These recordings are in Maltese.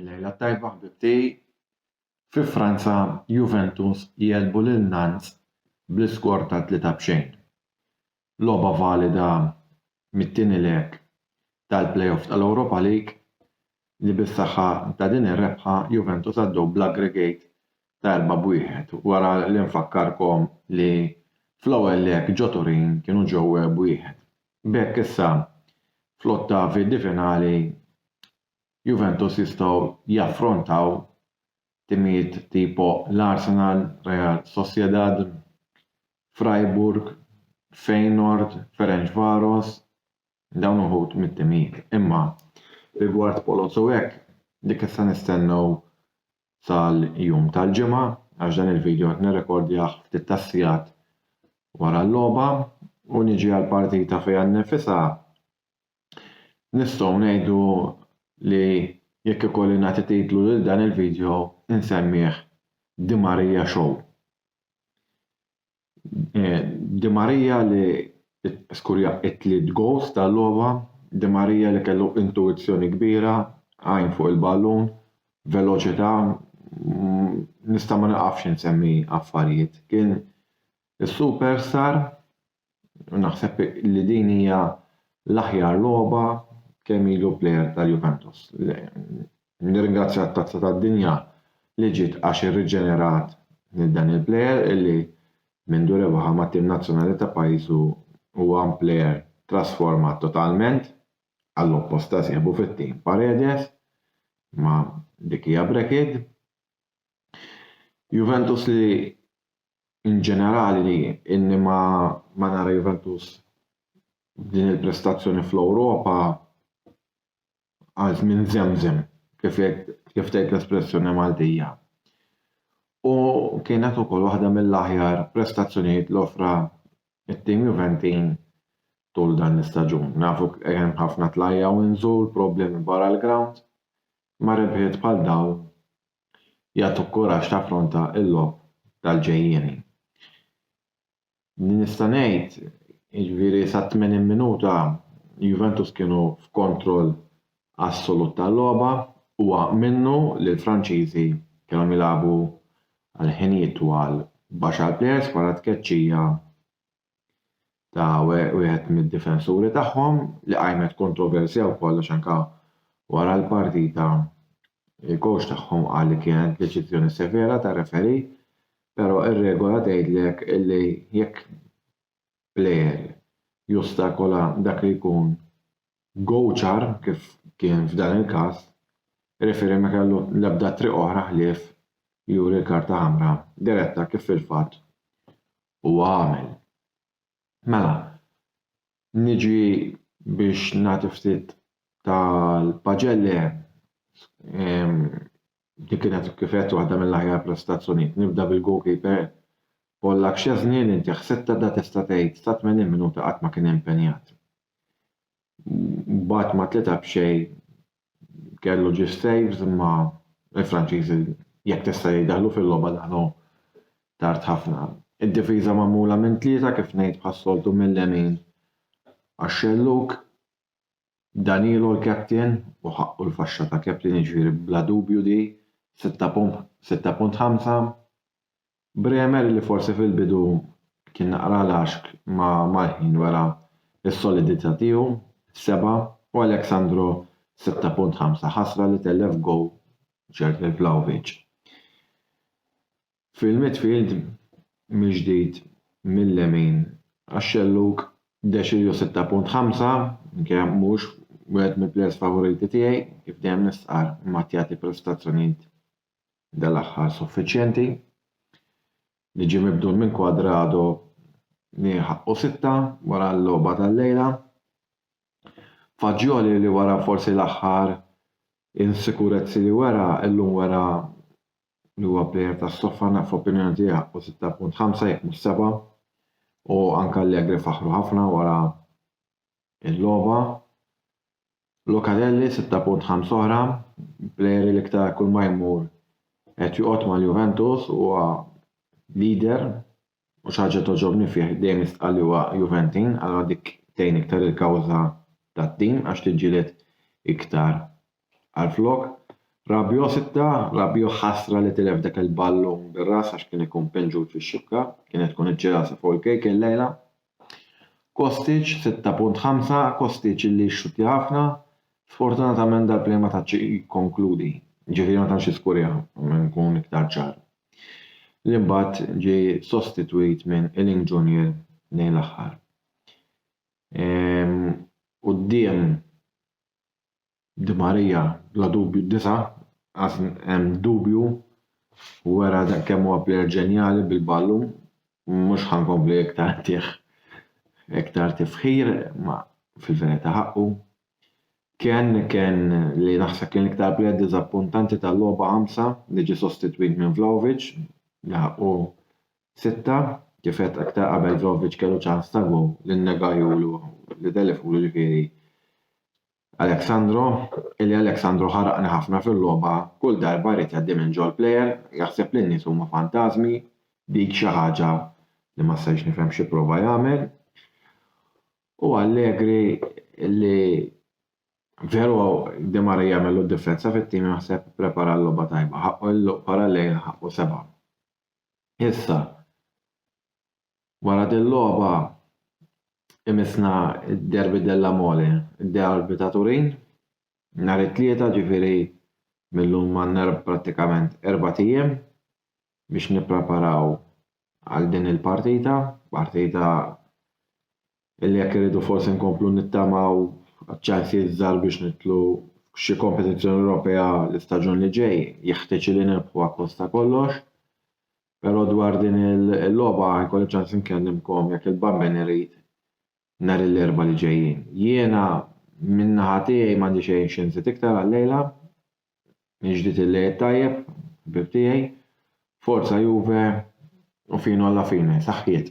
Lejla tajba ħbib tiegħi. Fi Franza, Juventus jegħlbu lil Nantes bl-iskor ta' tlieta b'xejn. Logħba valida mit-tieni leg tal-play-off tal-Europa League li bis-saħħa ta' din ir-rebħa Juventus għaddew bl-aggregate ta' erba' b'wieħed wara li nfakkarkom li fl-ewwel leg ġo Turin kienu ġew b'wieħed. B'hekk issa fl-ottavi di finali Juventus jistgħu jaffrontaw timijiet tipo l-Arsenal, Real Sociedad, Freiburg, Feyenoord, Ferencvaros, dawn uħud mit-timijiet. Imma rigward Polotz u hekk, dik issa nistennew sal-jum tal-Ġimgħa għax dan il-video qed nirrekordjah ftit tas-sigħat wara l-logħba u niġi għall-partita fiha nnifisha nistgħu ngħidu li jekk ikolli nagħti titlu lil dan il-video insemmih Di Maria Show. Di Maria li skurja it-tliet gowls tal-logħba, Di Maria li kellu intuwizzjoni kbira, għajn fuq il-ballun, veloċità, nista' ma nieqafx insemmi affarijiet. Kien is-superstar u naħseb li din hija l-aħjar logħba kemm ilu plejer tal-Juventus. Nirringrazzja t-Tazza tad-Dinja li ġiet għax irriġenerat lil dan il-plejer illi mindu rebaħha mat-tim nazzjonali ta' pajjiżu huwa plejer trasformat totalment, għall-oppost ta' sieħbu fit-tim Paredes, imma dik hija brekid. Juventus li in ġenerali inni ma ma nara Juventus b'din il-prestazzjoni fl-Ewropa, għal żmien żemżem kif kif tgħid l-espressjoni Maltija. U kienet ukoll waħda mill-aħjar prestazzjonijiet li offra it-tim Juventin tul dan l-istaġun. Nafu hemm ħafna tlajja u nżul, problemi barra l-ground, ma rebħiet bħal daw jagħtuk kuraġġ taffronta l-logħob tal-ġejjieni. li nista' ngħid, jiġifieri sat-80 minuta Juventus kienu f'kontroll assolut tal-logħba, huwa minnu li l-Franċiżi kellhom jilagħbu għal ħinijiet twal b'għaxar plejers wara tkeċċija ta' wieħed mid-difensuri tagħhom li qajmet kontroversja wkoll għax anke wara l-partita il-kowċ tagħhom qal li kienet deċiżjoni severa tar-referee Però r-regola tgħidlek li jekk plejer jostakola dak li jkun gowċar, kif kien f'dan il-każ, ir-referee ma kellu l-ebda triq oħra ħlief juri l-karta ħamra diretta kif fil-fatt huwa għamel. Mela, Niġi biex nagħti ftit tal-paġelle, din kienet kif għedt waħda mill-aħjar prestazzjonijiet. Nibda bil-goalkeeper Pollakk Szczesny li ntieħ sitta, da tista' tgħid sa 80 minuta qatt ma kien impenjat. Bagħat ma' tlieta b'xejn kellu ġie f'saves imma l-Franċiżi jekk tista' hi daħlu fil-logħba daħlu tard ħafna. Id-difiża magħmula minn tlieta kif ngħid bħas-soltu mil-lemin għax-xellug Danilo l-captain u ħaqqu l-faxxa ta' captain jiġifieri bla dubju di 6.5. Bremer li forsi fil-bidu kien naqra laxk ma mal-ħin wera s-solidità tiegħu, 7, u Alex Sandro, 6.5, ħasra li tellef goal ċert lil Vlahovic. Fil-midfield mill-ġdid mil-lemin għax-xellug Deschilio 6.5, minkejja mhux wieħed mill-plejers favoriti tiegħi, kif dejjem nistqarr, imma qed jagħti prestazzjonijiet dal-aħħar suffiċjenti, li ġie mibdul minn Cuadrado li ħaqqu sitta wara l-logħba tal-lejla. Faġġjoli li wara forsi l-aħħar insikurezzi li wera, illum wera li huwa plejer ta' stoffana f'opinjoni tiegħi ħaqqu 6.5 jekk mhux 7 u anke Allegri faħru ħafna wara Il-logħba, Locatelli, sitta punt ħams oħra, plejer li l-iktar kull ma jmur qed joqgħod mal-Juventus u huwa leader u xi ħaġa togħġobni fih dejjem jistqarr li huwa Juventin, allura dik tgħin iktar il-kawża tat-tim għax tiġġieled iktar Għalflok, Rabio sitta, Rabio ħasra li tilef dak il-ballun bir-ras għax kien ikun pinġut fix-xibka, kienet tkun iċ-ġirasa fuq il-kejk illejla. Kostic, sitta punt ħamsa, Kostic li jixxuttja ħafna, sfortunatament dal-play ma tantx jikkonkludi, ġifieri ma tantx jiskurja, nkun iktar ċar. Li mbagħad ġie sostitwit minn Ealing Junior lejn l-aħħar. Quddiem Di Maria bla dubju d-disa' għax hemm dubju u wera kemm huwa plejer ġenjali bil-ballun mhux ħa nkompli iktar ntih iktar tifħir ma fil-verità ħaqqu. Kien kien li naħseb kien l-iktar plejer diżappuntanti tal-logħba ħamsa li ġie sostitwit minn Vlahovic li ħaqqu sitta. Kif għedt aktar qabel Vlahovic kellu ċans ta' gowl li nnegahulu li telifulu ġifieri Alexandro, illi Alexandro ħaraqni ħafna fil-logħba, kull darba jrid jgħaddi minn ġol plejer, jaħseb li n-nies huma fantażmi, dik xi ħaġa li ma stajtx nifhem x'ipprova jagħmel, u Allegri li veru De Maria jagħmel d-differenza fit-tim naħseb prepara l-logħba tajba, ħaqqu l-luq para lejl ħaqqu seba'. Issa, Wara dil-logħba imissna d-Derby della Mole, id-Derby ta' Turin, nhar it-Tlieta, ġifieri mil-lum għandna prattikament erbat ijiem biex nippreparaw għal din il-partita, partita li jekk irridu forsi nkomplu nittamaw għaċ-ċansijiet żgħar biex nidħlu f'xi kompetizzjoni Ewropea l-istaġun li ġej jeħtieġ li nirbħuha kosta kollox. Però dwar din il-logħba jkolli ċans inkellimkom jekk il-bambin irid nhar l-Erbgħa li ġejjin. Jiena min-naħa tiegħi m'għandi xejn xi nżid iktar għal-lejla. Inġdid il-lejl tajjeb, ħbieb tiegħi. Forza Juve u fino alla fine, saħħiet!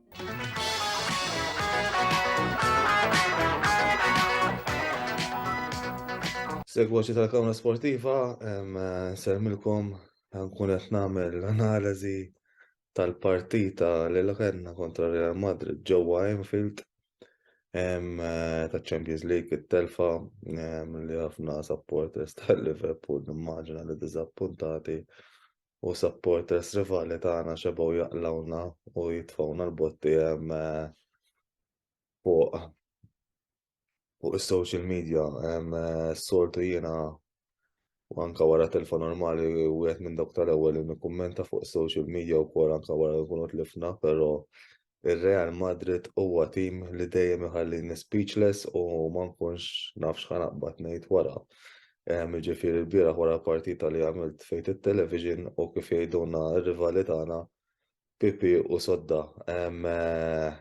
Segwaċi tal-Kamra Sportiva, sermilkom nkun qed nagħmel analiżi tal-partita li kellna kontra Real Madrid ġewwa Enfield ta' Champions League it-telfa li ħafna supporters tal-Liverpool nimmaġina li diżappuntati u supporters rivali tagħna xebgħu jaqlawna u jitfgħuna l-botti hemm eh, fuq fuq is-social media hemm eh, sortu jiena u anka wara telfa normali u għet minn dawk tal-ewwel li nikkummenta fuq social media u kol anka wara nkunu tlifna, però Ir-Real Madrid huwa tim li dejjem iħallini speechless u ma nkunx naf x'ħa naqbad ngħid wara. Ehm, jiġifieri l-bieraħ wara l-partita li għamilt fejt it-television u kif jgħidulna r-rivali tagħna Pipi u Sodda. Ehm, eh,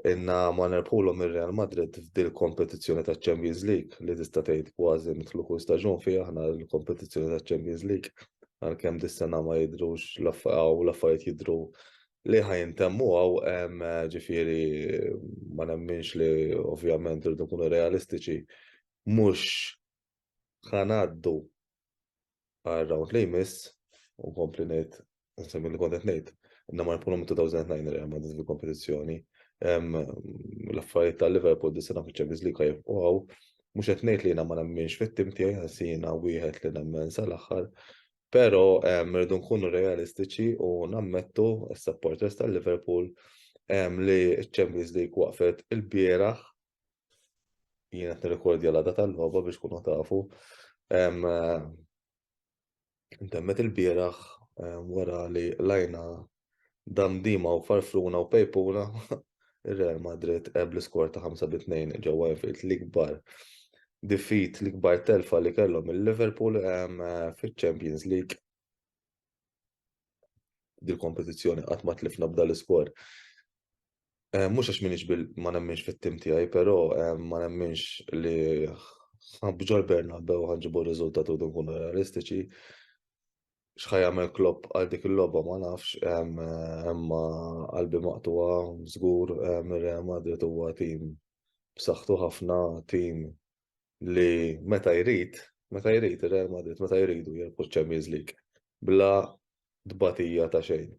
inna ma nerbħulhom ir-Real Madrid f'dil kompetizzjoni taċ-Champions League li tista' tgħid kważi nidħlu kull staġun fiha aħna l-kompetizzjoni taċ-Champions League għalkemm dis-sena ma jidhrux l-affarijiet jidhru li ħajintemmu għaw ġifiri ma nemminx li ovvjament rridu kunu realistiċi mux ħanaddu għal round li jmiss u kompli nejt nsemmi li kontet nejt inna ma npunu minn 2009 Real Madrid fil-kompetizjoni l-affarijiet tal-Liverpool dis-sena fil-Champions League għajf u għaw mux għetnejt li jina ma nemminx fit-tim tijaj għasina wieħed li nemmen sal-axħar Però rridu nkunu realistiċi u nammettu, is-supporters tal-Liverpool, li ċ-Champions League waqfet ilbieraħ, jien qed nirrekordja l-għada tal-logħba biex tkunu tafu, intemmet ilbieraħ wara li lajna Damdima u Farfruna u Pejpuna, ir-Real Madrid għeb l-iskor ta' 5 bi 2 ġewwa Anfield l-ikbar defeat, l-ikbar telfa li kellhom il-Liverpool fiċ-Champions League. Dil-kompetizzjoni qatt ma tlifna b'dal iskor. Mhux għax minix ma nemminx fit-tim tiegħi, però ma nemminx li b'ġol Bernabeu ħanġibu r-riżultat u nkunu realistiċi. x'ħa jagħmel Klopp għal dik il-logħba ma nafx, imma qalbi maqtuha żgur mir-Real Madrid huwa tim b'saħħtu ħafna, tim li meta jrid, meta jrid ir-Real Madrid meta jridu jirbħu ċ-Champions League bla tbatija ta' xejn.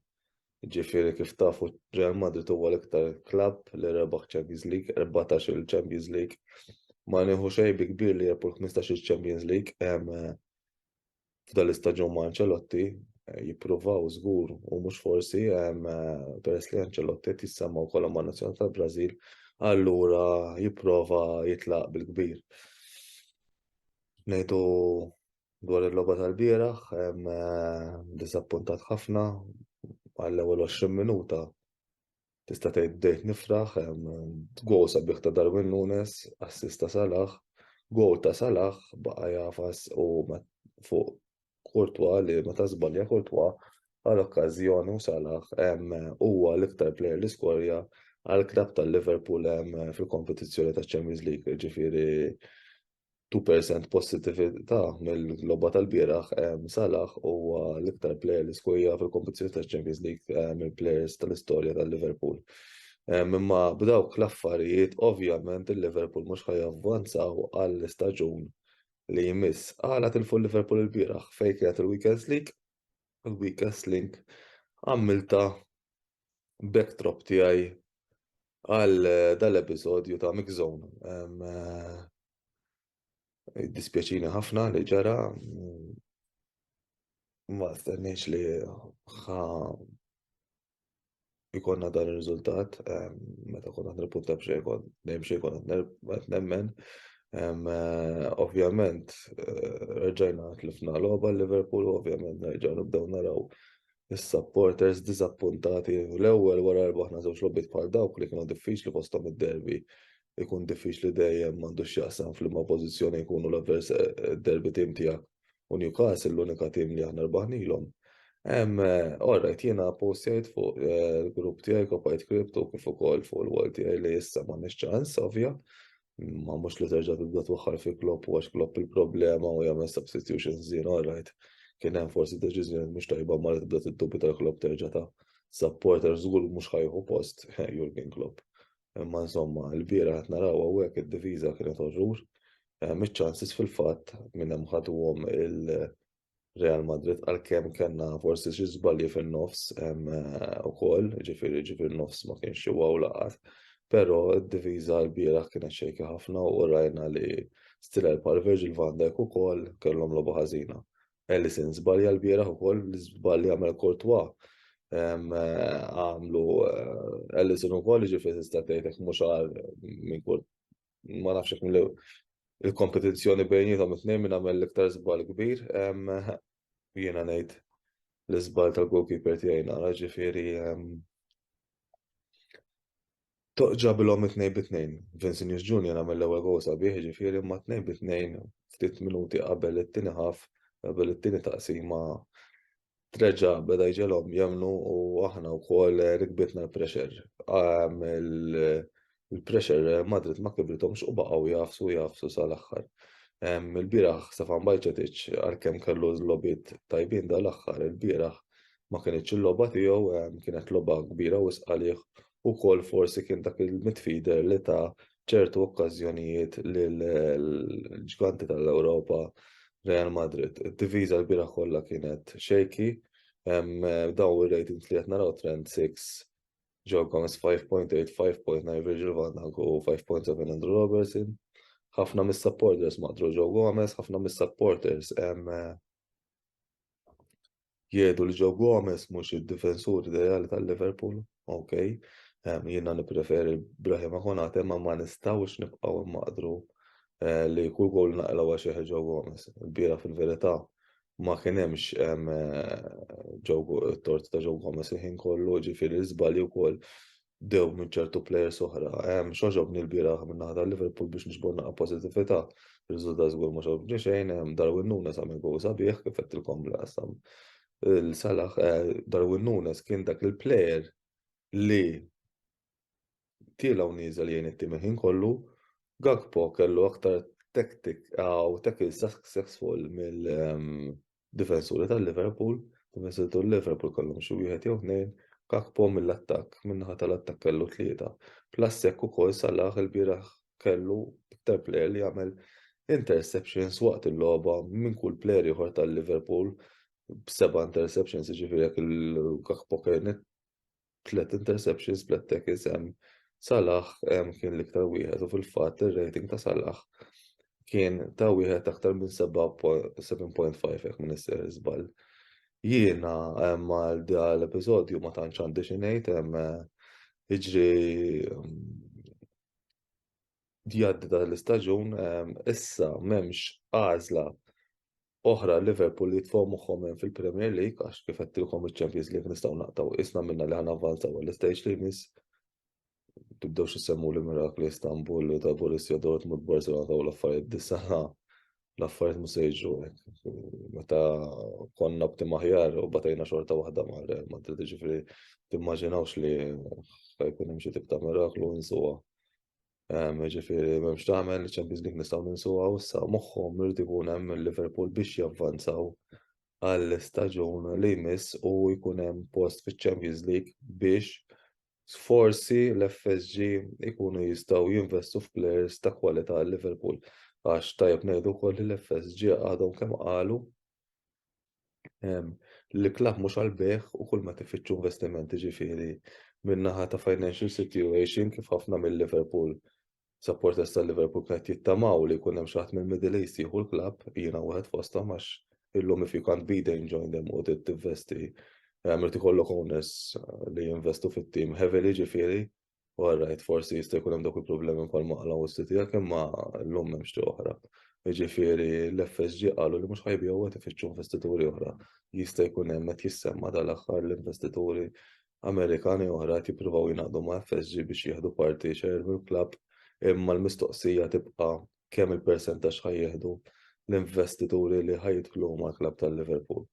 Ġifieri kif tafu Real Madrid huwa l-iktar klabb li rebaħ Champions League, 14 il-Champions League. Ma nieħu xejn bi kbir li jerbħu l-15 il-Champions League, f'dan l-istaġun ma' Ancelotti eh, jippruvaw żgur u mhux forsi eh, peress li Ancelotti qed jissemma wkoll ma' nazzjon tal-Brażil allura jipprova jitlaq bil-kbir. Ngħidu dwar il-logħba tal-bieraħ eh, diżappuntat ħafna għall-ewwel 20 minuta tista' tgħid bdejt nifraħ, goal sabiħ ta' Darwin Nunes, assist ta' Salah, goal ta' Salah baqa' jafas u fuq Kurtwa li meta żbalja Kurtwa għal okkażjoni u Salah huwa l-iktar plejer li skorja għal klabb tal-Liverpool fil-kompetizzjoni taċ-Champions League, ġifieri 2% positività mill-logħba tal-bieraħ Salah huwa l-iktar plejer li skorja fil-kompetizzjoni taċ-Champions League mill-plejers tal-istorja tal-Liverpool. Imma b'dawk l-affarijiet ovvjament il-Liverpool mhux ħa javvanzaw għall-istaġun li jmiss. Għala tilfu l-Liverpool il-bieraħ fejn kienet il-Weekends League, il-Weekends League għamilta backdrop tiegħi għal dal-episodju ta' Mix Zone. Dispjaċini ħafna li ġara ma stenniex li ħa ikonna dan il-riżultat meta konna nirpunta b'xejn kon dejjem xejn kon qed nemmen. Eh, ovvjament eh, reġajna tlifna logħba Liverpool, ovvjament nerġgħu nibdew naraw is-supporters diżappuntati u l-ewwel wara rbaħna żewġ logħbiet bħal dawk li kienu diffiċli fosthom id-derby ikun diffiċli dejjem m'għandux x'jaqsam f'liema pożizzjoni jkunu l-avvers derby tim tiegħek u Newcastle l-unika tim li aħna rbaħnilhom. Hemm orrajt jiena postjajt fuq il-grupp tiegħi kopajt kriptu kif ukoll fuq il-wall tiegħi li issa m'għandniex ċans ovvja Ma mhux li terġa' tibda twaħħal fi Klopp u għax Klopp il-problema u jagħmel substitution żien all right. Kien hemm forsi deċiżjoni mhux tajba ma li tibda tiddubita l-Klopp terġa' ta' supporter żgur mhux ħajħu post Jurgen Klopp. Imma insomma, l-bira qed naraw hawnhekk id-diviża kienet orrur. Miċ-ċansis fil-fatt minn hemm ħaduhom Real Madrid għalkemm kellna forsi xi żbalji fin-nofs hemm eh, ukoll, ġifieri ġifieri nofs ma kienx xi waw laqat, però d-diviża l-bieraħ kienet xejka ħafna u rajna li Stiller pal Virgil van Dijk ukoll kellhom logħba ħażina. Ellison żbalja l-bieraħ ukoll li żbalja għamel kortwa eh, għamlu eh, Ellison ukoll ġifieri tista' tgħidek mhux għal minn ma nafx hekk mill il-kompetizzjoni bejnietom it-tnejn minn għamel l-iktar żball kbir. Jiena ngħid l-iżball tal-goalkeeper tiegħi nara ġifieri ġabilhom it-tnejn bit-tnejn. Vincent Junior għamel l-ewwel goal sabiħ ġifieri ma tnejn bit-tnejn ftit minuti qabel it-tieni ħaf qabel it-tieni taqsima treġa beda jġelhom jemnu u aħna wkoll rikbitna l-pressure. Ehm, il-pressure Madrid ma kibritomx u baqgħu jafsu jafsu sal-aħħar. Ehm, il-bieraħ Stefan Bajċetic għalkemm kellu l-lobit tajbin dal-aħħar, il-bieraħ ma kienx il-logħba tiegħu, ehm, kienet logħba kbira u sqalih ukoll forsi kien dak il-midfielder li ta' f'ċertu okkażjonijiet lill-ġganti tal-Ewropa Real Madrid. Id-diviża l-bieraħ kollha kienet shaky, dawn ir-ratings li qed naraw trend 6 Joe Gomez 5.8, 5.9 Virgil van Dijk u 5.7 Andrew Robertson. ħafna mis-supporters maqdru Joe Gomez, ħafna mis-supporters jgħidu li Joe Gomez mhux id-difensur ideali tal-Liverpool, ok, jiena nippreferi Brahima Konate ma ma nistgħux nibqgħu mmaqdru eh, li kull gol naqilgħu għax jeħi Joe Gomez. Il-bira fil-verità ma kien hemmx eh, tort ta' Joe Gomez il-ħin kollu, ġifieri żbalji wkoll dew minn ċertu plejers oħra. Xogħġobni l-bieraħ minn naħa tal-Liverpool biex nixbor naqa' pożittività. Ir-riżultat żgur ma xogħobni xejn, Darwin Nunes għamel gowl sabiħ kif għedtilkom li qasam il-salaħ eh, Darwin Nunes kien dak il-plejer li tielaw nieżel jgħin it-tim ħin kollu, Gakpo kellu aktar tactic għaw tackle successful mill ehm, difensuri tal-Liverpool, difensuri tal-Liverpool kellhom xi wieħed jew tnejn, Gakpo mill-attakk, min-naħa tal-attakk kellu tlieta, plus hekk ukoll Salah ilbieraħ kellu iktar plejer li għamel interceptions waqt il-logħba minn kull plejer ieħor tal-Liverpool b'seba' interceptions, jiġifieri jekk il-Gakpo kien tliet interceptions, tliet tackles hemm Salah kien l-iktar wieħed u fil-fatt ir-rating ta' Salah kien ta' wieħed aktar minn 7.5 jekk minn isser żball. Jiena għal l-episodju ma tantx għandi xi ngħid hemm iġri jgħaddi dan l-istaġun, issa m'hemmx għażla oħra Liverpool li jitfgħu moħħhom hemm fil-Premier League għax kif qedtilkom iċ-Champions League nistgħu naqtgħu isna minna li ħana avvanzaw għall-istage li jmiss. Tibdewx isemmu li mirakli Istanbul u ta' Borussia Dortmund Barcelona taw l-affarijiet disa l-affarijiet mhux se jiġu Meta konna b'tim aħjar u batajna xorta waħda ma' Real Madrid ġifri timmaġinawx li jkun hemm xi tip ta' miraklu insuha Ġifieri m'hemmx tagħmel, iċ-Champions League nistgħu ninsuha u issa moħħhom irid ikun hemm il-Liverpool biex javvanzaw għall-istaġun li jmiss u jkun hemm post fiċ-Champions League biex forsi l-FSG ikunu jistgħu jinvestu f'players ta' kwalità għal Liverpool. Għax tajjeb ngħidu wkoll li l-FSG għadhom kemm qalu l-iklaħ mhux għall-bejgħ u kull ma tifittxu investiment ġifieri min-naħa ta' financial situation kif ħafna mill-Liverpool supporters tal-Liverpool qed jittamaw li jkun hemm xi ħadd mill-Middle East jieħu l-klabb jiena wieħed fosthom għax illum if you can't be there join them u tivvesti għamilt ikollok owners eh, li jinvestu fit-tim heavily ġifieri All right, forsi jista' jkun hemm dak il-problemi wkoll maqla u s-siti jekk imma llum hemm xi oħra. Jiġifieri l-FSG qalu li mhux ħajbiju qed ifittxu investituri oħra. Jista' jkun hemm qed jissemma tal-aħħar l-investituri Amerikani oħra qed jippruvaw jingħaqdu ma' FSG biex jieħdu parti xejn mill-klabb imma l-mistoqsija tibqa' kemm il-persentaġġ ħajjieħdu l-investituri li ħajdħlu mal-klabb tal-Liverpool.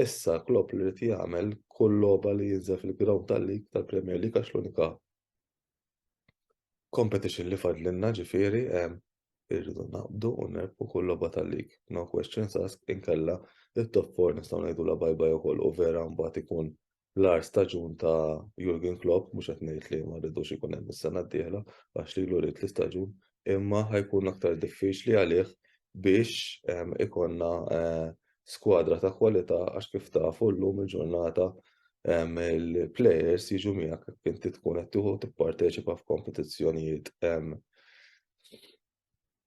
Issa Klopp li rrit jagħmel kull logħba li jinżel fil-ground tal-lig tal-Premier League għax l-unika competition li fadlinna ġifieri irridu naqbdu u nerbħu kull logħba tal-lig. No questions asked inkella it-top 4 nistgħu ngħidulha bye bye ukoll u vera mbagħad ikun l-agħar staġun ta' Jurgen Klopp, mhux qed ngħid li ma rridux ikun hemm is-sena d-dieħla għax lilu ried l-istaġun, imma ħa jkun aktar diffiċli għalih biex ikollna eh, skwadra ta' kwalità għax kif tafu llum il-ġurnata il-players jiġu miegħek inti tkun qed tieħu tipparteċipa f'kompetizzjonijiet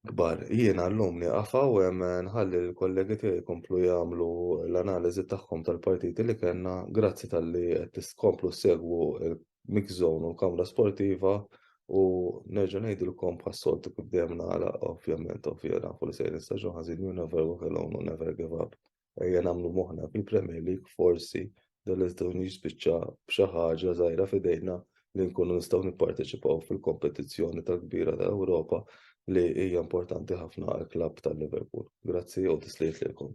kbar. Jiena llum nieqaf hawn u nħalli lill-kollegi tiegħi jkomplu jagħmlu l-analiżi tagħhom tal-partiti li kellna. Grazzi talli qed tkomplu ssegwu l-Mix Zone u l-Kamra Sportiva u nerġa' ngħidilkom bħas-soltu kif dejjem nagħlaq ovvjament, ovvja nafu li sejrin staġun ħażin, you never walk alone u never give up. ejja nagħmlu moħħna fil-Premier League forsi dan l-iżdewwin jispiċċa b'xi ħaġa żgħira f'idejna li nkunu nistgħu nipparteċipaw fil-kompetizzjoni tal-kbira ta' Ewropa li hija importanti ħafna għal klabb tal-Liverpool. Grazzi u tisliet lilkom.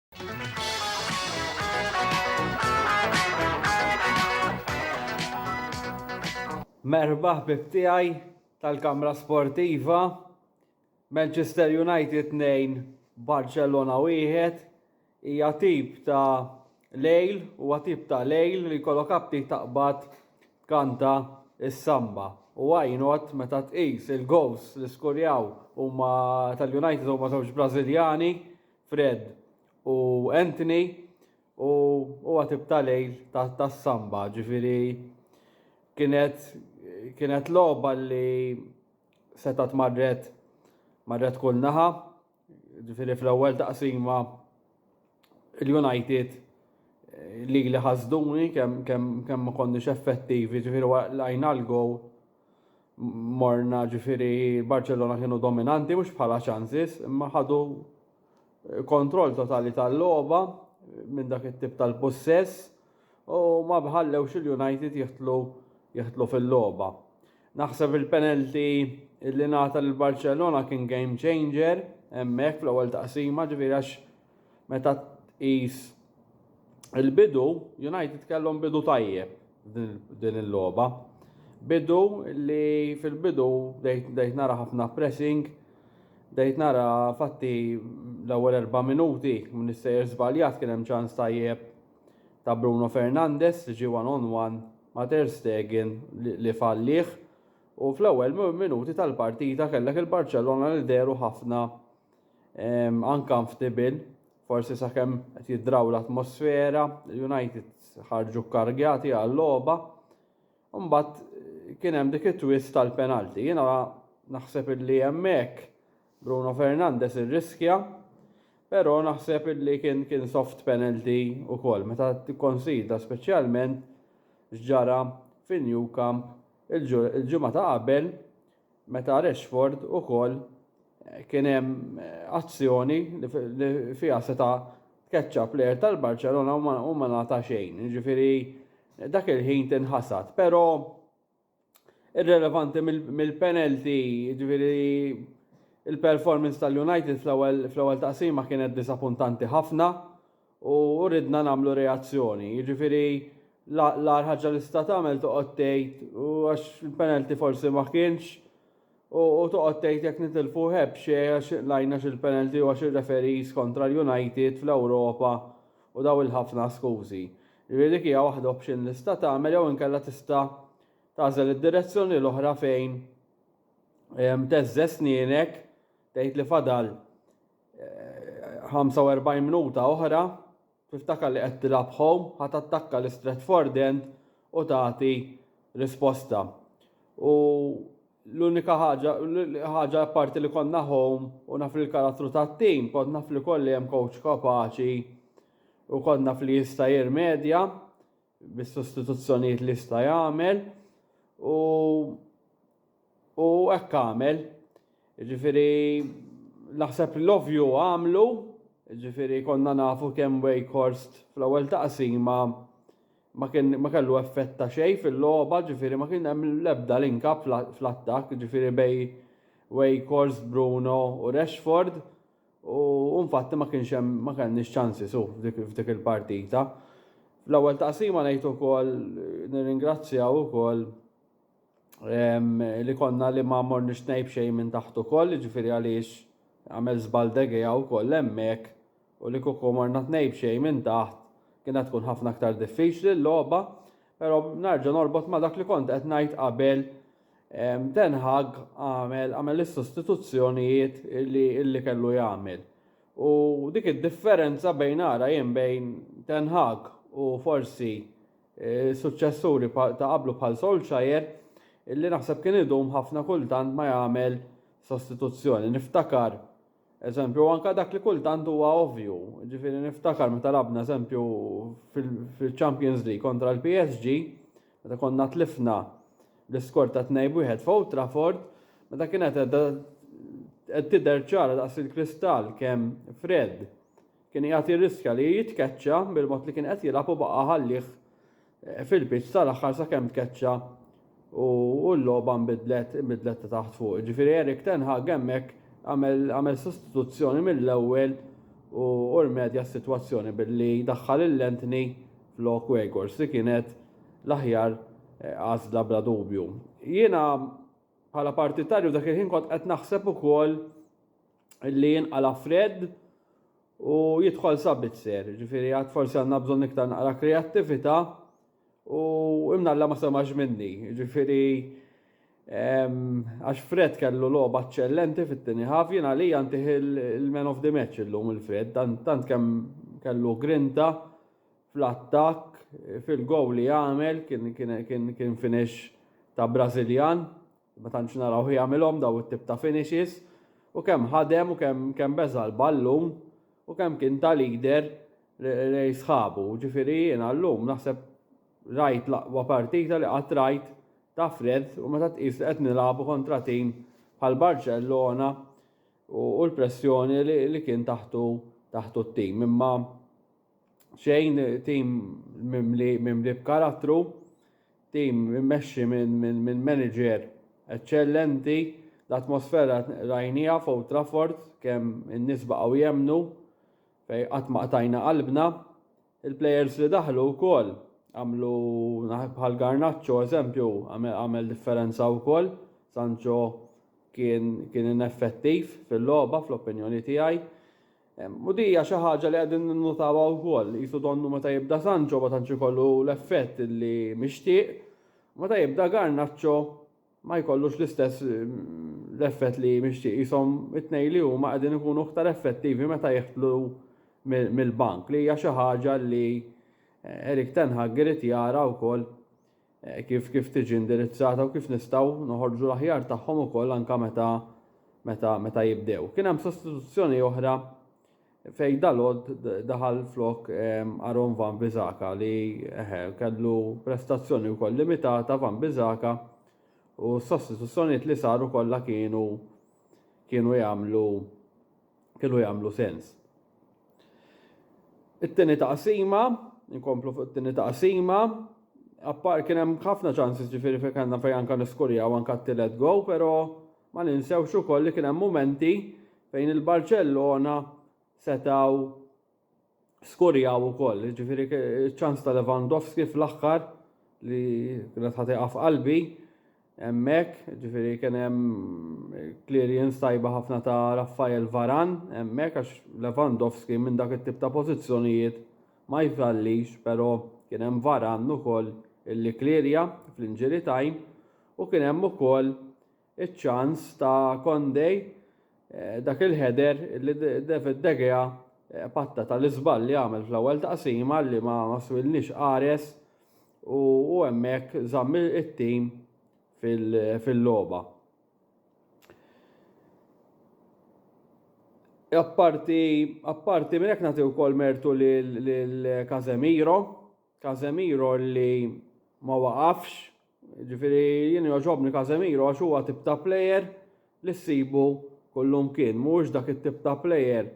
Merħba ħbib tiegħi tal-Kamra Sportiva. Manchester United 2, Barcelona 1. Hija tip ta' lejl, huwa tip ta' lejl li jkollok apti taqbad kanta is-samba. U għajnot meta tqis il-gows li skurjaw huma tal-United huma żewġ Brażiljani Fred u Anthony u huwa tip ta' lejl tas-samba, ġifieri kienet kienet logħba li setgħet marret marret kull naħa, ġifieri fl-ewwel taqsima l-United lili ħasduni kemm kemm kemm ma konniex effettivi, ġifieri waqlajna l-gowl. morna ġifiri Barcellona kienu dominanti mhux bħala ċansis imma ħadu eh, kontroll totali tal-logħba eh, minn dak it-tip tal-possess u ma bħallewx il-United jihtlu jihtlu fil-logħba. Naħseb il-penalti li nata l-Barcellona kien game changer hemmhekk fl-ewwel taqsima ġifiri għax Meta tqis il-bidu, United kellhom bidu tajjeb din il-logħba. Bidu li fil-bidu dejt nara ħafna pressing, dejt nara fatti l-ewwel erba' minuti minn is-sejjer żbaljat kien hemm ċans tajjeb ta' Bruno Fernandes li ġie one on one ma' Ter Stegen li fallih u fl-ewwel minuti tal-partita kellek il-Barċellona li dehru ħafna Anka mftibil, forsi sakemm qed jiddraw l-atmosfera, l-United ħarġu kkargjati għal-logħba. Mbagħad eh, kien hemm dik it-twist tal-penalti. Jiena naħseb illi hemmhekk Bruno Fernandez irriskja, però naħseb illi kien kien soft penalty ukoll meta tikkonsidra speċjalment x'ġara fin-New Camp il-ġimgħa ta' qabel meta Rashford ukoll kien hemm azzjoni li fiha seta' tkeċċa plejer tal-Barċelona u ma nagħta xejn. Jiġifieri dak il-ħin tinħasad, però irrelevanti mill-penalty, jiġifieri il-performance tal-United fl-ewwel taqsima kienet disapuntanti ħafna u ridna nagħmlu reazzjoni. Jiġifieri l-agħar ħaġa li sta tagħmel toqgħod tgħid u għax il-penalty forsi ma kienx u toqgħod tgħid jekk nitilfu heb xi għax lajna xil-penalty u għax ir-referees kontra l-United fl-Ewropa u daw il-ħafna skużi. Jiġifieri dik hija waħda option li sta tagħmel jew inkella tista' tagħżel id-direzzjoni l-oħra fejn teżżeż snienek tgħid li fadal 45 eh, minuta oħra, tiftakar li qed tilab home, ħat attakka l-Stratford End u tagħti risposta. U l-unika ħaġa, ħaġa parti li konna home u naf li l-karattru ta' tim, kont naf li kolli hemm coach kapaċi u konna fli jista' jirmedja. bis-sostituzzjonijiet li jista' jagħmel u u hekk għamel. Ġifieri naħseb l-ovju għamlu, ġifieri konna nafu kemm Wakehorst fl-ewwel taqsima ma kien ma kellu effett ta' xejn fil-logħba, ġifieri ma kien hemm l-ebda linka fl-attakk, ġifieri bej Wakehorst, Bruno u Rashford. U infatti ma kienx hemm ma kellniex ċansi su f'dik il-partita. L-ewwel taqsima ngħid ukoll nirringrazzjaw ukoll li konna li ma morniex ngħib xejn minn taħt ukoll, jiġifieri għaliex għamel żball degea wkoll hemmhekk u li kieku morna tnejb xejn minn taħt kienet tkun ħafna aktar diffiċli l-logħba, però narġa' norbot ma' dak li kont qed ngħid qabel Ten Hag għamel għamel is-sostituzzjonijiet li li kellu jagħmel. U dik id-differenza bejn ara jien bejn Ten Hag u forsi eh, suċċessuri ta' qablu bħal Solskjaer illi naħseb kien idum ħafna kultant ma jagħmel sostituzzjoni. Niftakar Eżempju, u anka dak li kultant huwa ovvju, ġifieri niftakar meta labna eżempju fil-Champions League kontra l-PSG, meta konna tlifna l-iskor ta' tnejn wieħed f'Old Trafford, meta kienet qed tidher ċara daqs il-kristall kemm Fred kien qiegħed jirriskja li jitkeċċa bil-mod li kien qed jilgħab u baqa' ħallih fil-pitch tal-aħħar sakemm tkeċċa u l-logħba nbidlet nbidlet ta' taħt fuq. Ġifieri Erik Ten Hag hemmhekk għamel sostituzzjoni mill-ewwel u rmedja s-sitwazzjoni billi daħħal il-Lentni flok Wegors li kienet l-aħjar eh, għażla bla dubju. Jiena bħala partitarju dak il-ħin kont qed naħseb ukoll li jinqala Fred u jidħol sabitzer, ġifiri għad forsi għanna bżon iktar naqra kreativita u imnalla ma semax minni, ġifiri għax Fred kellu loba eccellenti fit-tini ħaf, jina li għantih il-man of the match illum il-Fred, tant kem kellu grinta fl-attak, fil-gow li għamel, kien finish ta' Brazilian, Ma tantx narawh jagħmilhom daw it-tip ta' finishes u kemm ħadem u kemm kemm beża' l-ballun u kemm kien ta' leader lejn sħabu. Ġifieri jiena llum naħseb rajt l-aqwa partita li qatt rajt ta' Fred u meta tqis li qed nilagħbu kontra tim bħal Barċellona u l-pressjoni li kien taħtu taħtu t-tim imma xejn tim mimli mimli b'karattru, tim immexxi minn min, min manager eċċellenti, l-atmosfera rajnija fuq Trafford kemm in-nies baqgħu jemmnu fej qatt ma qtajna qalbna. Il-plejers li daħlu wkoll għamlu bħal Garnaċċo eżempju għamel differenza wkoll. Sancho kien kien ineffettiv fil-logħba fl-opinjoni tiegħi. U di hija xi ħaġa li qegħdin ninnutawha wkoll, qisu donnu meta jibda Sancho ma tantx ikollu l-effett li mixtieq, u meta jibda Garnacho ma jkollux l-istess l-effett li mixtieq. Qishom it-tnejn li huma qegħdin ikunu aktar effettivi meta jidħlu mill-bank li hija xi ħaġa li Erik Ten Hag irid jara wkoll kif kif tiġi indirizzata u kif nistgħu noħorġu l-aħjar tagħhom ukoll anke meta meta meta jibdew. Kien hemm sostituzzjoni oħra fej dalod daħal flok ehm, Aaron Van Bizaka li kellu prestazzjoni wkoll limitata Van Bizaka u s-sostituzzjonijiet li saru kollha kienu kienu jagħmlu kienu jagħmlu sens. It-tieni taqsima, inkomplu fuq it-tieni taqsima, appar kien hemm ħafna ċansis ġifieri fejn kellna fejn anke niskurjaw anke t-tielet go, però ma ninsewx ukoll li kien hemm mumenti fejn il-Barċellona setgħu skurjaw ukoll, ġifiri ċans ta' Lewandowski fl-axħar li kienet ħatiqa f'qalbi, emmek, ġifiri kien hemm clearance tajba ħafna ta' Raffael Varan, emmek għax Lewandowski minn dak it-tip ta' pożizzjonijiet ma jfallix, però kien hemm Varan ukoll illi klirja fl-inġiri time u kien hemm ukoll iċ-ċans ta' Condé, dak il-header li David De Gea patta tal-iżball li għamel fl-ewwel taqsima li ma swilniex qares u hemmhekk żamm it-tim fil-logħba. Apparti, apparti minn hekk nagħti wkoll mertu lil Casemiro, Casemiro li ma waqafx Ġifieri jien jogħġobni Casemiro għax huwa tip ta' plejer li ssibu kullum kien. Mhuwiex dak it-tip ta' plejer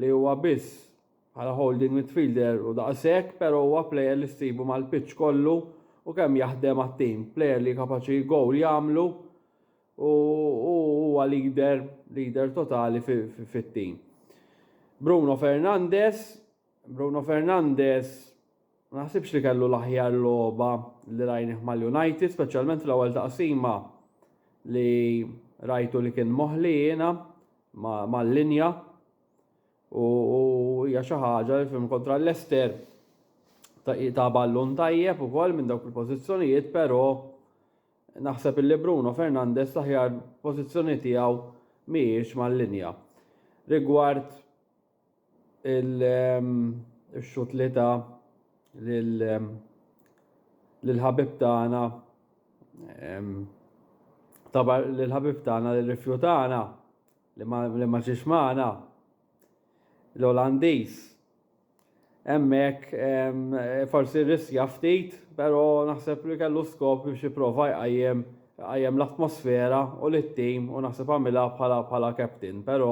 li huwa biss bħala holding midfielder u daqshekk, però huwa plejer li ssibu mal-pitch kollu u kemm jaħdem għat-tim. Plejer li kapaċi gowl jagħmlu u huwa leader, leader totali fit-tim. Bruno Fernandes Bruno Fernandes ma naħsibx li kellu l-aħjar logħba li rajnih mal-United, speċjalment fl-ewwel taqsima li rajtu li kien moħli jiena mal-linja u hija xi ħaġa li fim kontra l-Lester ta' ballun tajjeb ukoll minn dawk il-pożizzjonijiet, però naħseb li Bruno Fernandes l-aħjar pożizzjoni tiegħu mhijiex mal-linja. Rigward il-xut li ta l-ħabib tagħna tabar l-ħabib tagħna li rifjutana li ma ġiex magħna l-Olandiż. Hemmhekk forsi riskja ftit, però naħseb li kellu skop biex jipprova jqajjem għajem l-atmosfera u l-tim u naħseb għamilha bħala bħala captain, pero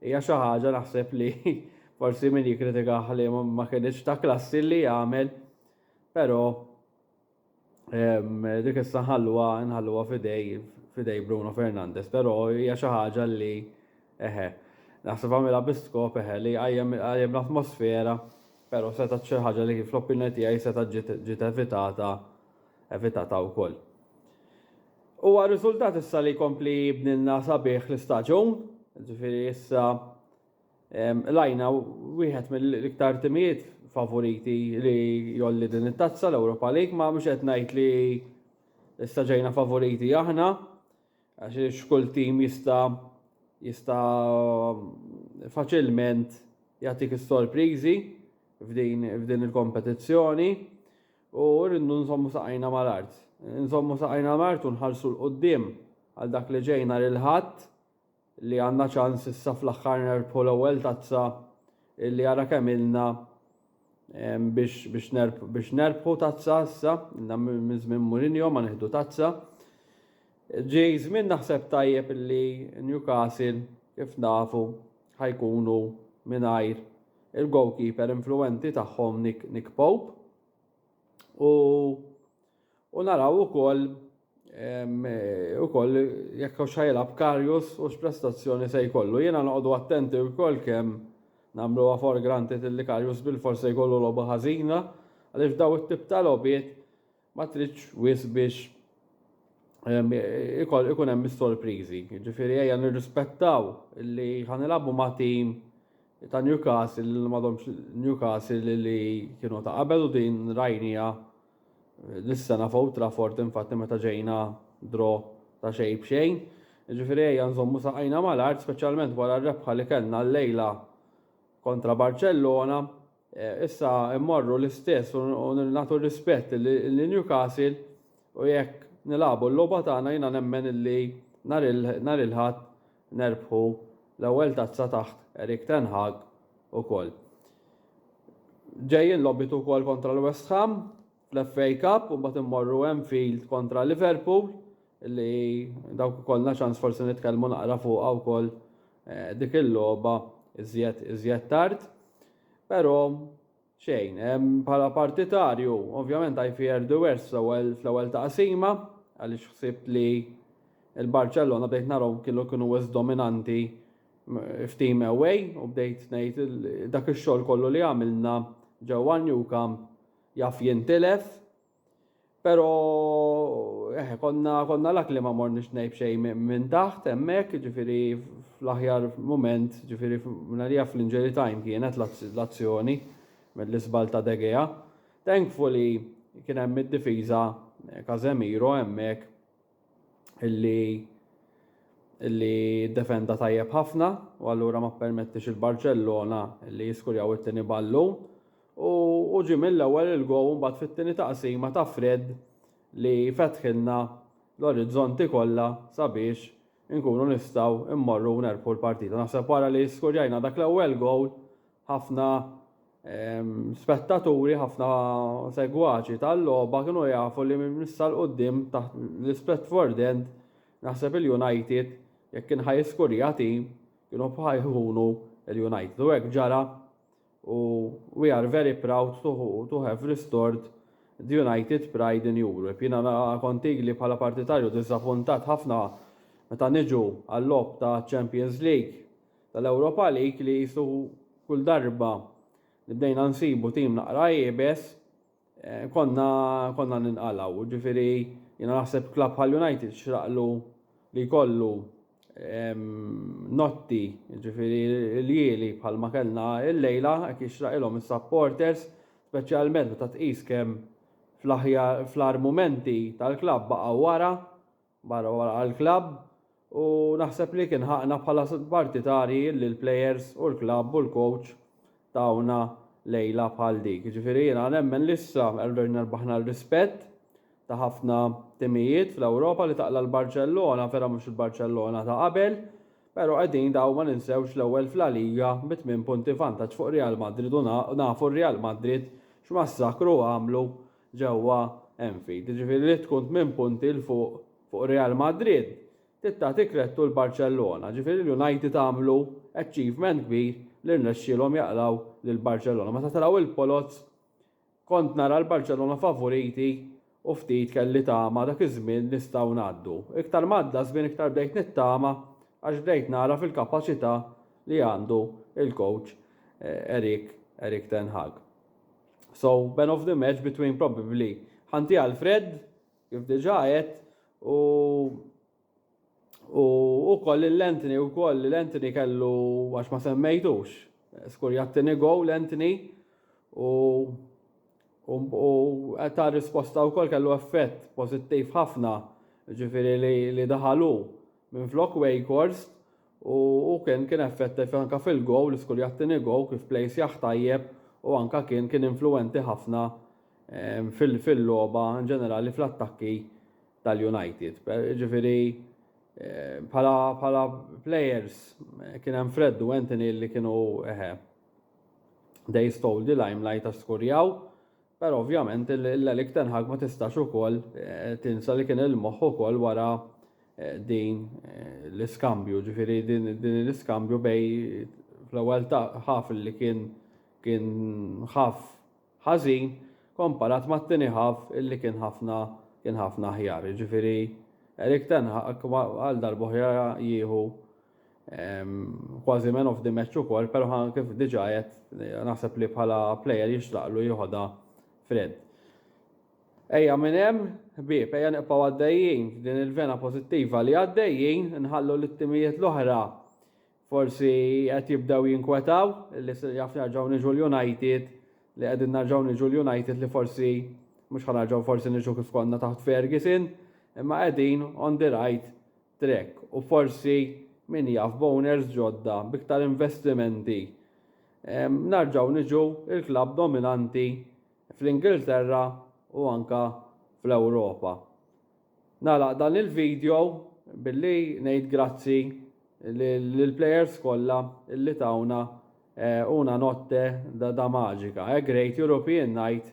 Hija xi ħaġa naħseb li forsi min jikkritikah li ma kinitx ta' klassi li jagħmel, però dik issa nħalluha nħalluha fidej fidej Bruno Fernandes, però hija xi ħaġa li eħe. Naħseb għamilha bi skop eħe li qajjem l-atmosfera, però seta' xi ħaġa li fl-opinjoni tiegħi seta' ġiet evitata evitata wkoll. Huwa riżultat issa li jkompli jibnilna sabiħ l-istaġun, ġifieri issa lajna wieħed mill-iktar timijiet favoriti li jolli din it-tazza l-Europa League, ma mhux qed ngħid li issa ġejna favoriti aħna, għax kull tim jista' jista' faċilment jagħtik is-sorpriżi f'din il-kompetizzjoni. U rridu nżommu saqajna mal-art. Nżommu saqajna mal-art u nħarsu 'l quddiem għal dak li ġej nhar il-Ħadd li għandna ċans issa fl-aħħar nerbħu l-ewwel tazza li ara kemm ilna biex biex nerb biex nerbħu tazza issa ilna minn żmien Mourinho ma nieħdu tazza. Ġej żmien naħseb tajjeb illi Newcastle kif nafu ħa jkunu mingħajr il-goalkeeper influwenti tagħhom Nick, Nick Pope u u naraw ukoll ukoll jekk hux ħajlab Karius u x'prestazzjoni se jkollu. Jiena noqogħdu attenti wkoll kemm nagħmluha for granted li Karius bil-forsi jkollu logħba ħażina għaliex daw it-tip ta' logħbiet Ma tridx wisq biex ikun hemm is-sorpriżi. Ġifieri ejja nirrispettaw li ħanilagħbu ma' tim ta' Newcastle li m'għadhomx Newcastle li kienu ta' qabel u din rajnija dis-sena f'Old Trafford infatti meta ġejna dro ta' xejn b'xejn. Ġifieri ejja nżommu saqajna mal-art speċjalment wara r-rebħa li kellna llejla kontra Barċellona. Issa mmorru l-istess u nagħtu r-rispett lil Newcastle u jekk nilagħbu l-logħba tagħna jiena nemmen illi nhar il-Ħadd nerbħu l-ewwel tazza taħt Erik ten Hag ukoll. Ġejjin logħbiet ukoll kontra l-West Ham. Fl-FA Cup u mbagħad immorru Anfield kontra Liverpool li dawk ikollna ċans forsi nitkellmu naqra fuqha wkoll eh, dik il-logħba iżjed iżjed tard. Però xejn, bħala partitarju, ovvjament I fear the worst fl-ewwel taqsima għaliex ħsibt li il-Barcellona bdejt narhom kienu kienu wis dominanti f'team away u bdejt ngħid dak ix-xogħol kollu li għamilna ġewwa New Camp Jaf jintilef, pero eh, konna, konna lak li ma morniex nejb xej minn taħt, emmek, ġifiri fl-aħjar moment, ġifiri fl-għalija fl-injury time kienet l-azzjoni mill-isbal ta' Degea. Thankfully kien hemm id-difiża Casemiro hemmhekk illi illi defenda tajjeb ħafna u allura ma permettix il-Barcellona illi jiskurjaw it-tieni ballu u, u ġi mill-ewwel il-gow mbagħad fit-tieni taqsima ta' Fred li fetħilna l-orizzonti kollha sabiex inkunu nistgħu immorru nerbħu l-partita. Naħseb wara li skurjajna dak l-ewwel gowl Ħafna spettaturi, ħafna segwaċi tal-logħba kienu jafu li minn issa l-qudiem taħt l-Ispretford End naħseb il-United jekk kien ħa jiskurja tim kienu bħa jkunu l-United u hekk ġara u we are very proud to, to have restored the United pride in Europe. Jiena kont ili bħala partitarju diżappuntat ħafna meta niġu għal-logħob ta' Champions League tal-Europa League li qisu kull darba li bdejna nsibu tim naqra iebes eh, konna konna ninqalgħu. Ġifieri jiena naħseb klabb bħal United xraqlu li jkollu notti, ġifiri l-jieli bħal ma kellna il-lejla, għek jixraqilom il-supporters, specialment meta tqis kem fl-ar momenti tal-klab baqa wara, Barra wara għall-klabb u naħseb li kien ħaqna bħala partitarji li l-plejers u l-klabb u l-kowċ tawna lejla bħal dik. Jiġifieri jiena nemmen li issa erġajna rbaħna r-rispett ta' ħafna timijiet fl-Ewropa li taqla' l-Barċellona, vera mhux il-Barċellona ta' qabel, pero qegħdin daw ma ninsewx l-ewwel f'La Liga bi tmien punti vantaġġ fuq Real Madrid u nafu r-Real Madrid x'massakru għamlu ġewwa Anfield. Jiġifieri li tkun tmien punti 'l fuq fuq Real Madrid trid tagħti krettu 'l Barċellona. Jiġifieri l-United għamlu achievement kbir li rnexxielhom jaqlgħu lil Barċellona. Meta telgħu il-Poloz kont nara l-Barċellona favuriti u ftit kelli tama dak iż-żmien nistgħu ngħaddu. Iktar m'għadda żmien iktar bdejt nittama għax bdejt nara fil-kapaċità li għandu l-coach Erik Erik ten Hag. So, man of the match between probably Hanti Alfred, kif diġa għed, u u koll l-Anthony u koll l-Anthony kellu għax ma semmejtux. Skur jattini go l-Anthony u u ta' risposta u koll kellu effett pozittiv ħafna ġifiri li daħalu minn flok Wakehorse U hu kien kien effettiv anke fil-go, l-iskul jagħtini go, kif play sjaħ tajjeb u anke kien kien influwenti ħafna fil-logħba inġenerali fl-attakki tal-United. Ġifieri bħala bħala players kien hemm Fred u Anthony li kienu eħe. They stole the limelight għax skurjaw Però ovvjament l-Erik ten Hag ma tistax ukoll tinsa li kien il-moħħ ukoll wara din l-iskambju, ġifieri din l-iskambju bej fl-ewwel ħaf li kien kien ħaf ħażin komparat mat-tieni ħaf li kien ħafna kien ħafna aħjar. Ġifieri Erik ten Hag għal darb'oħra jieħu Kważi man of the match ukoll, però kif diġà qed naħseb li bħala plejer jixtraqlu jieħodha Fred. Ejja minn hemm, ħbieb, ejja niqpaw għaddejjin f'din il-vena pożittiva li għaddejjin, nħallu li t-timijiet l-oħra forsi qed jibdew jinkwetaw li jaf nerġgħu niġu l-United li qegħdin nerġgħu niġu l-United li forsi mhux ħanarġgħu forsi niġu kif konna taħt Ferguson, imma qegħdin on the right Trek u forsi min jaf b'owners ġodda b'iktar investimenti narġgħu niġu l-klabb dominanti fl-Ingilterra u anke fl-Ewropa. Nagħlaq dan il-video billi ngħid grazzi lill-players kollha li tawna una notte da da magica, a great European night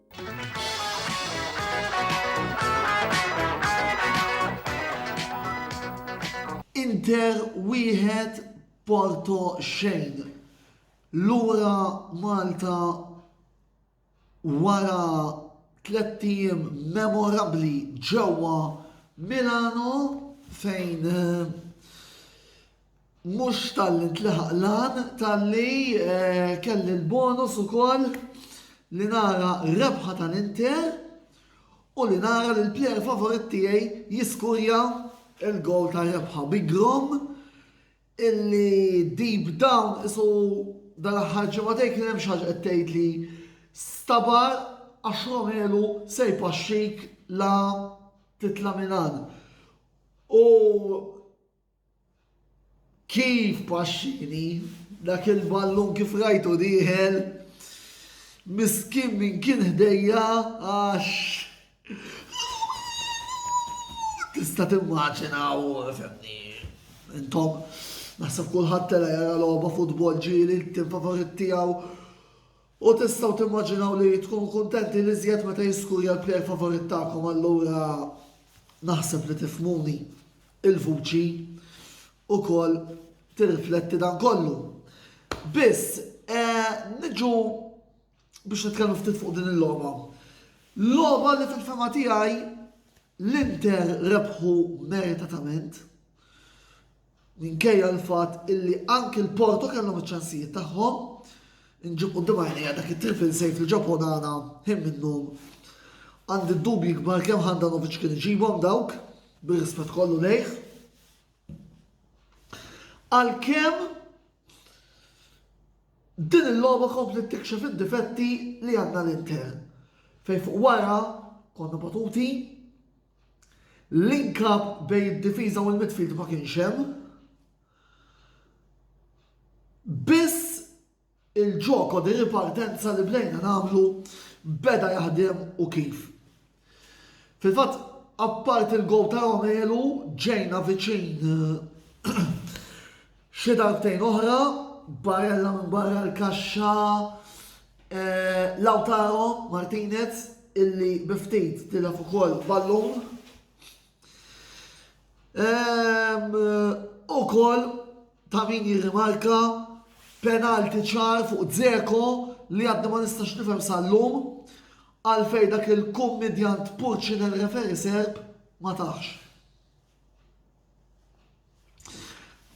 Inter wieħed Porto xejn. Lura Malta wara tliet ijiem memorabbli ġewwa Milano fejn eh, Mhux talli ntlaħaq l-għan, talli kelli l-bonus ukoll li nara rebħa tal-Inter u li nara li l-plejer favorit tiegħi jiskurja il-gowl ta' rebħa bi grom illi deep down isu dal-aħħar ġimgħatej kien hemm xi ħaġa qed tgħid li stabar għax Romelu se jpaxxik la titla' minn hawn. U Kif paxxini dak il-ballun kif rajtu dieħel miskin min kien ħdejja għax tista' timmaġina u fimni. Intom naħseb kulħadd tela jara logħba futbol ġieli t-tim favorit tiegħu U tistgħu timmaġinaw li tkunu kuntenti l-iżjed meta jiskurja l-plejer favorit tagħkom allura naħseb li tifhmuni l-vuċi wkoll tirrifletti dan kollu. Biss, eh, niġu biex nitkellmu ftit fuq din il-logħba. Logħba li fil-fema tiegħi l-Inter rebħu meritatament Minkejja l-fatt illi anki l-Porto kellhom iċ-ċansijiet tagħhom, inġib quddiem għajnejja dak it-triple save li ġab Onana ħin minnhom. Għandi d-dubji kbar kemm Handanovic kien iġibhom dawk, bir-rispett kollu lejh. Għalkemm din il-logħba komplet tikxef id-difetti li għandna l-Inter fejn fuq wara konna batuti Link up bejn id-difiża u l-midfield ma kienx hemm. Biss il-ġoko di ripartenza li bdejna nagħmlu beda jaħdem u kif. Fil-fatt, apparti l-gow ta' Romelu, ġejna viċin Xi darbtejn oħra, Barella minn barra l-kaxxa, eh, Lautaro Martinez illi biftit tilef ukoll ballun. Ehm, u koll ta' min jirrimarka penalti ċar fuq Zeko li għaddi ma nistax nifhem sal-lum għalfej dak il-kummedjant Purċin il-referi serb ma taħx.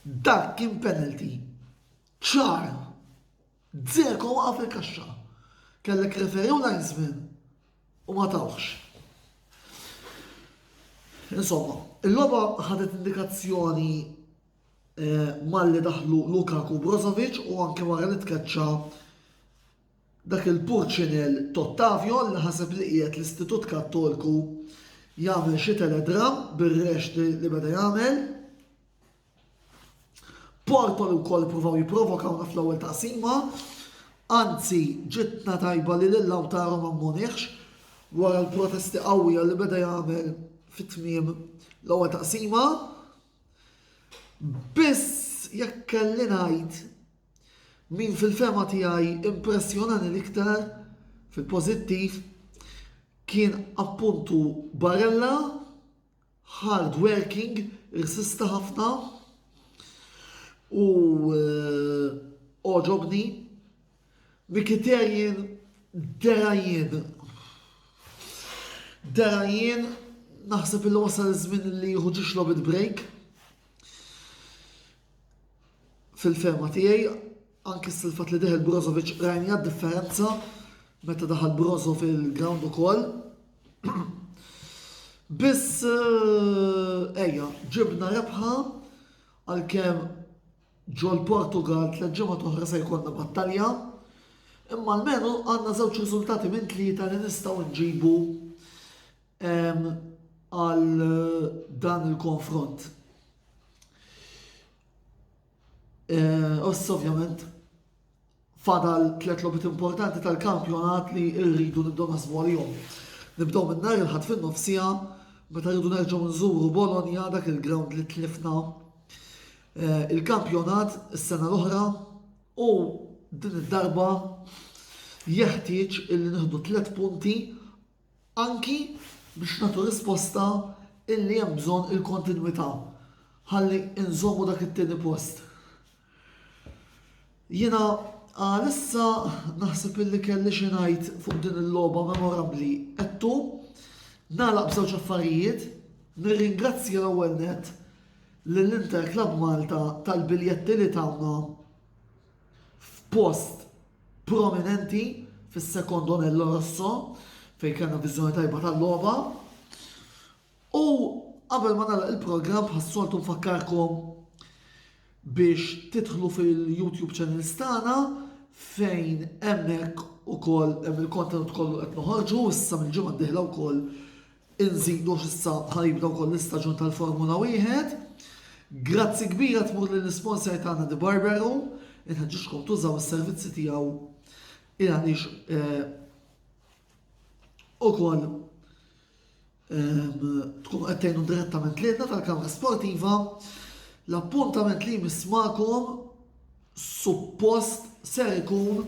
Dan kien penalty ċar. Dzeko waqa' fil-kaxxa. Kellek referi u linesman u ma tawx. Insomma, il-loba ħadet indikazzjoni eh, malli daħlu Lukaku Brozovic u anke wara li tkeċċa Dak il-purċinell t'Ottavio li ħaseb li qiegħed l-Istitut Kattolku jagħmel xi teledramm bir-rex li beda jagħmel. Porto li wkoll ippruvaw jipprovokawna fl-ewwel taqsima. Anzi, ġitna tajba li lil Lautaro ma mmoniħx wara l-protesti qawwija li beda jagħmel fit-tmiem l-ewwel taqsima. Biss jekk kelli ngħid Min fil-fehma tiegħi impressjonani l-iktar fil-pożittiv kien appuntu Barella, hard working, irsista ħafna u eh, oġobni. Mikiterjen derajjen. Derajjen naħseb il wasal żmien li jieħu ġiġ lobit break. Fil-fehma tiegħi, anki s-silfat li deħel Brozovic rajna differenza meta daħal Brozo fil-ground ukoll. Biss eh, ejja, ġibna rebħa għalkemm ġol Portugal tliet ġimgħa toħra se jkollna battalja. Imma almenu għandna żewġ riżultati minn tlieta li nistgħu nġibu għal dan il-konfront. Oss eh, ovvjament fadal tlet lobit importanti tal-kampjonat li rridu nibdew naħsbu għalihom. Nibdew minn nhar il-ħadd fin-nofsija meta rridu nerġgħu nżuru Bologna dak il-ground li tlifna eh, il-kampjonat is-sena l-oħra u din id-darba jeħtieġ illi nieħdu tliet punti anki biex nagħtu risposta illi hemm bżonn il-kontinwità ħalli nżommu dak it-tieni post. Jiena għalissa naħseb illi kelli xi ngħid fuq din il-logħba memorabbli qedtu nagħlaq b'żewġ affarijiet nirringrazzja l-ewwel net lill-Inter Club Malta tal-biljetti li tawna f'post prominenti fis-secondo anello rosso fejn kellna viżjoni tajba tal-logħba. U qabel ma nagħlaq il-programm bħas-soltu nfakkarkom biex titħlu fil-YouTube channel stana fejn hemmhekk ukoll hemm il-kontenut kollu qed noħorġu issa mill-ġimgħa d-dieħla wkoll Inżidu għax issa ħa jibda wkoll l-istaġun tal-Formula Wieħed. Grazzi kbira tmur lill-isponsor tagħna Di Barbero, inħeġġiġkom tużaw is-servizzi tiegħu il għaliex eh, ukoll ehm, tkun qed tgħinu direttament lilna tal-Kamra Sportiva. L-appuntament li jmiss magħkom suppost ser ikun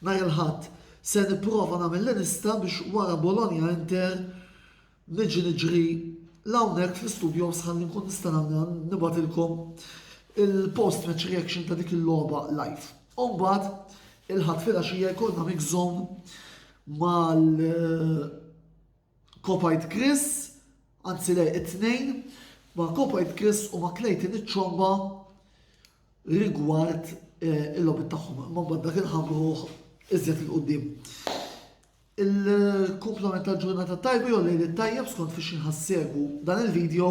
nhar il-Ħadd. Se nipprova nagħmel li nista' biex wara Bologna Inter niġi niġri l hawnhekk fl-istudios ħalli nkun nista' nagħmilha nibgħatilkom il-post match reaction ta' dik il-logħba live. Umbagħad il-Ħadd filgħaxija jkollna mix zone mal Kopajt Chris, anzi le it-tnejn, ma' Kopajt Chris u ma' Clayton iċ-Ċomba rigward eh, il-logħbiet tagħhom. Ma' mbagħad dak il-ħamruħ iżjed il-qudiem. Il-kumplament tal-ġurnata tajba jew lejl tajjeb skont fiex inħassegu dan il-video